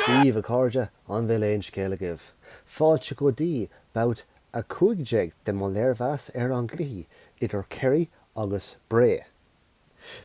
Daoibh, a chairde, an bhfuil aon scéal agaibh? Fáilte go dtí babhta 15 de mo léirmheas ar an gcluiche idir Kerry agus Bray.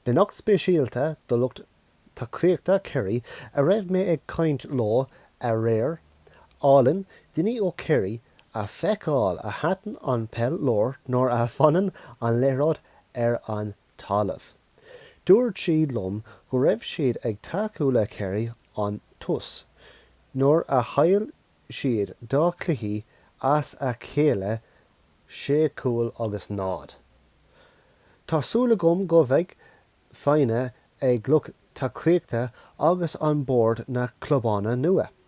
Beannacht speisialta do lucht tacaíochta Kerry a raibh mé ag caint leo aréir, álainn daoine ó Kerry a fheiceáil a thaitin an peil leo nuair a bhfanann an liathróid ar an talamh. Dúirt siad liom go raibh siad ag tacú le Kerry ón tús nuair a chaill siad dhá cluiche as a chéile 6 cúl agus 0. Tá súil agam go bheidh foighne ag lucht tacaíochta agus an bord na clubanna nua.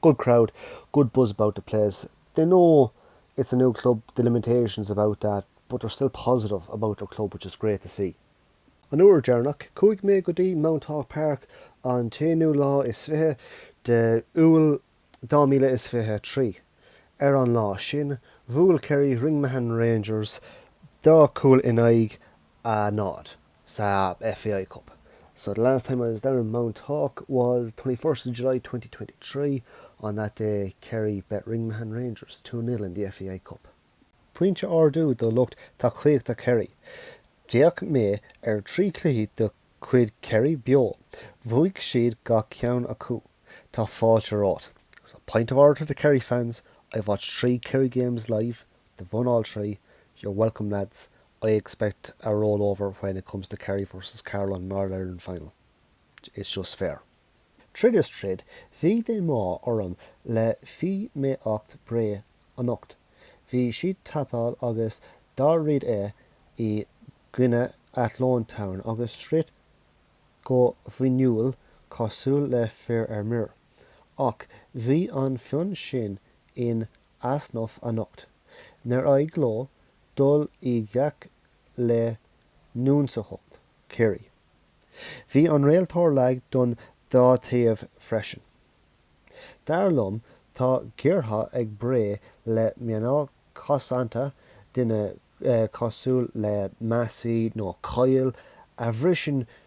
Good crowd, good buzz about the place, they know it's a new club, the limitations about that but they're still positive about their club which is great to see. An uair deireanach chuaigh mé go dtí Mounthawk Park an t-aonú lá is fiche de Iúil 2023. Ar an lá sin, bhuail Kerry Ringmahon Rangers dhá chúl in aghaidh a náid. sa FAI Cup. So the last time I was down in Mount Hawke was 21st of July 2023. On that day Kerry bet Ringmahon Rangers two nil in the FAI Cup. Pointe ardú do lucht tacaíochta Kerry. D'fhéach mé ar thrí cluichí de chuid Kerry beo. Bhuaigh siad gach ceann acu. Tá fáilte romhat. So, pint of orator to Kerry fans, I've watched three Kerry games live. they've won all three, you're welcome lads, I expect a roll over when it comes to Kerry versus Carlow in an All Ireland final. It's just fair. Tríd is tríd, bhí díomá orm le feidhmíocht Bray anocht. Bhí siad tapúil agus dáiríre i gcoinne Athlone Town agus throid go fuinniúil cosúil le fir ar mire. Ach bhí an fonn sin in easnamh anocht. Níor éirigh leo dul i ngleic le hionsaitheacht Kerry. Bhí an réiteoir lag don dá taobh freisin. Dar liom tá géarghá ag Bré le meánáil cosanta, duine cosúil le Massey nó Coyle a bhriseann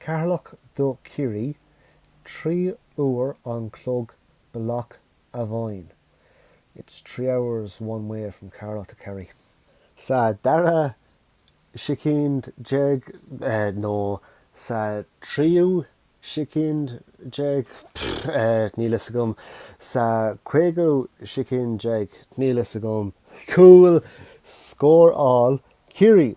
Ceatharlach do Chiarraí, trí uair an chlog bealach amháin. It's three hours one way from Ceatharlach to Kerry. Sa dara soicind déag nó sa tríú soicind déag, níl fhios agam. Sa caoga soicind déag, níl fhios agam. Cúl scóráil Ciarraí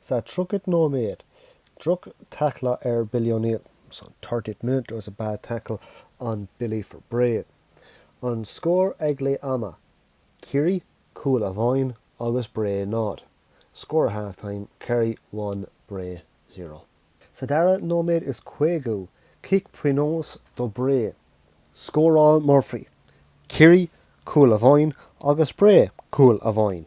Sa tríochad nóiméad, droch tackle ar Billy O'Neill. So thirtieth minute, there was a bad tackle on Billy for Bray. An scór ag leath ama, Ciarraí cúl amháin agus Bray nád. Score at half time, Kerry one, Bray zero. Sa dara nóiméad is caogú, cic pionós do Bray. Scóráil Murphy, Ciarraí cúl amháin agus Bray cúl amháin.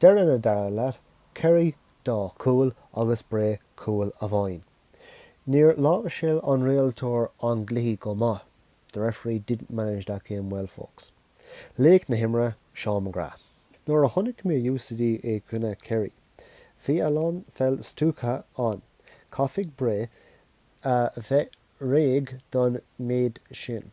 Deireadh na dara leath, Kerry, Dá chúl agus Bré, Cúl amháin. Níor láimhseáil an rialtóir an cluiche go maith, The referee didn't manage that game well folks. Laoch na himeartha, Seán McGrath. Nuair a chonaic mé UCD i gcoinne Kerry, bhí a lán pheil stuacach ann. Caithfidh Bré a bheith réidh don méid sin.